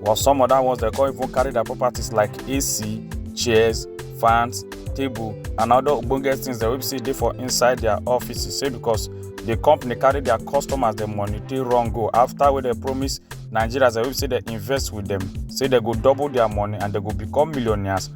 while some other ones dem come even carry their properties like ac chairs fans table and other ogbonge things dem wey be say dey for inside their offices say because the company carry their customers dem money take run go after wey dem promise nigerians dem wey be say dem invest with dem say dem go double their money and dem go become millionaires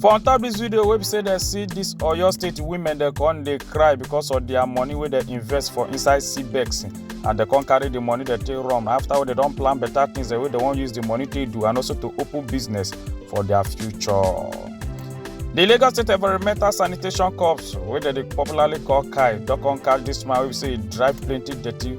For on top this video, wey be say dem see this Oyo State women dem come dey cry because of their money wey dem invest for inside CBEX and dem come carry the money dem take run after wey dem don plan better things dem wey dem wan use the money take do and also to open business for their future. The Lagos State Environmental Sanitation Corps wey dem dey popularly call KAI don come catch this man wey be say e drive plenty dirty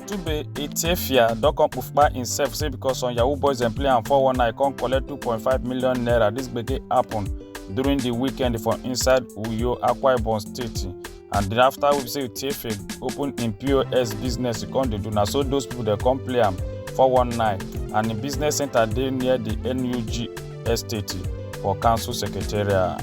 Tube Ethiopia don come kpupa himself say because some Yahoo boys dem play am 419 come collect 2.5 million naira. This gbege happen during the weekend for inside Uyo, Akwa Ibom State. And then after we say Ethiopia open im POS business, e come dey do na so those people dey come play am 419 and im business center dey near the NUG Estate for council secretariat.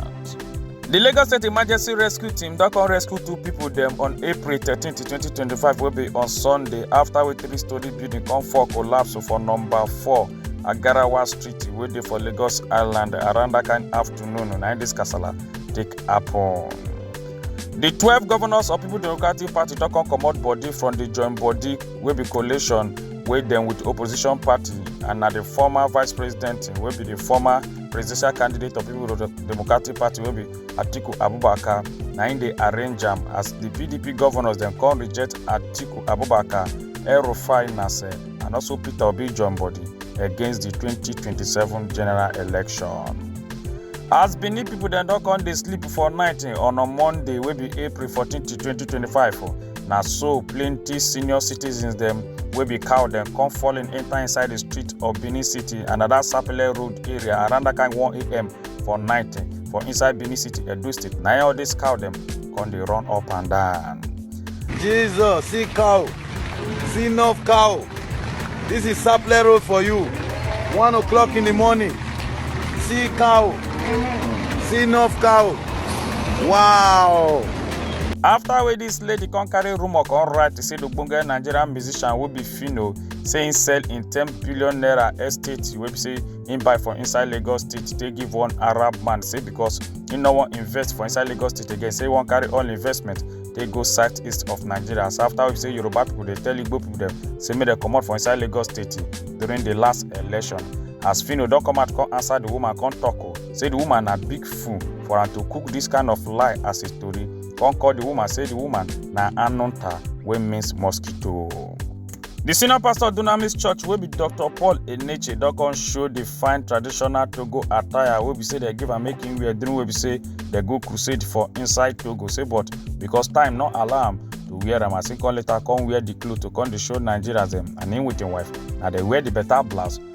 Di Lagos State Emergency Rescue Team don come rescue two pipo dem on April 13, 2025 wey be on Sunday afta wey three-storey building come fall collapse for number 4 Agarawa Street wey dey for Lagos Island around dat kain afternoon na im dis kasala take happen. Di twelve governors of People Democratic Party don come comot body from di join body wey be coalition wey dem with opposition party and na the former vice president wey be the former presidential candidate of people democratic party wey be atiku abubakar na im dey arrange am as the pdp governors dem come reject atiku abubakar el-rufai nasser and also peter obi join body against the 2027 general election. as benin pipo dem don come dey sleep for night on a monday wey be april 14 to 2025 na so plenty senior citizens dem wey be cow dem come falling enter inside the street of benin city and at that sapele road area around that kind 1am for night for inside benin city edo state na all these cow dem come dey run up and down. jesus see cow see enough cow this is sapele road for you one o'clock in the morning see cow see enough cow wow. after wey dis lady come carry rumour come write say the ogbonge nigerian musician wey be phyno say im sell im ten billion naira estate wey be say im buy for inside lagos state take give one arab man say because im no wan invest for inside lagos state again say im wan carry all investment take go south east of nigeria so after wey be say yoruba people dey tell igbo people dem say make dem comot for inside lagos state during the last election as phyno don come out come answer the woman come talk o say the woman na big fool for am to cook this kind of lie as a story come call the woman say the woman na anunta wey means mosquito. The senior pastor of Dunamis Church wey be Dr. Paul Eneche don come show the fine traditional Togo attire wey be say dem give am make him wear during wey be say dem go crusade for inside Togo say but because time no allow am to wear am as him come later come wear the cloth to come dey show Nigerians dem and him with him wife na dey wear the better blouse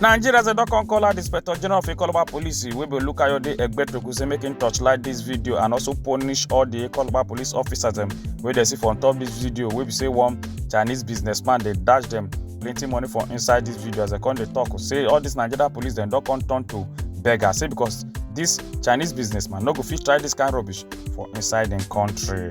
nigeria say don come call out di inspector general of ikoloba police wey be olukayode egbetoku say make im torchlight dis video and also punish all di ikoloba police officers dem wey dey see for on top dis video wey be say one chinese businessman dey dash dem plenty money for inside dis video as dem come dey tok say all dis nigeria police dem don come turn to beggar say because dis chinese businessman no go fit try dis kain rubbish for inside im country.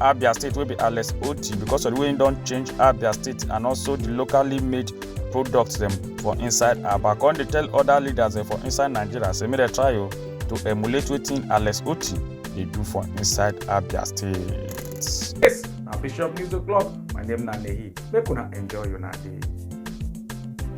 abia state wey be alex oti because of the way he don change abia state and also the locally made products dem for inside aba come dey tell other leaders dem for inside nigeria say make dem try o to emulate wetin alex oti dey do for inside abia state. Yes, na Bishop News O'Clock. My name na Nehi. Make una enjoy una day.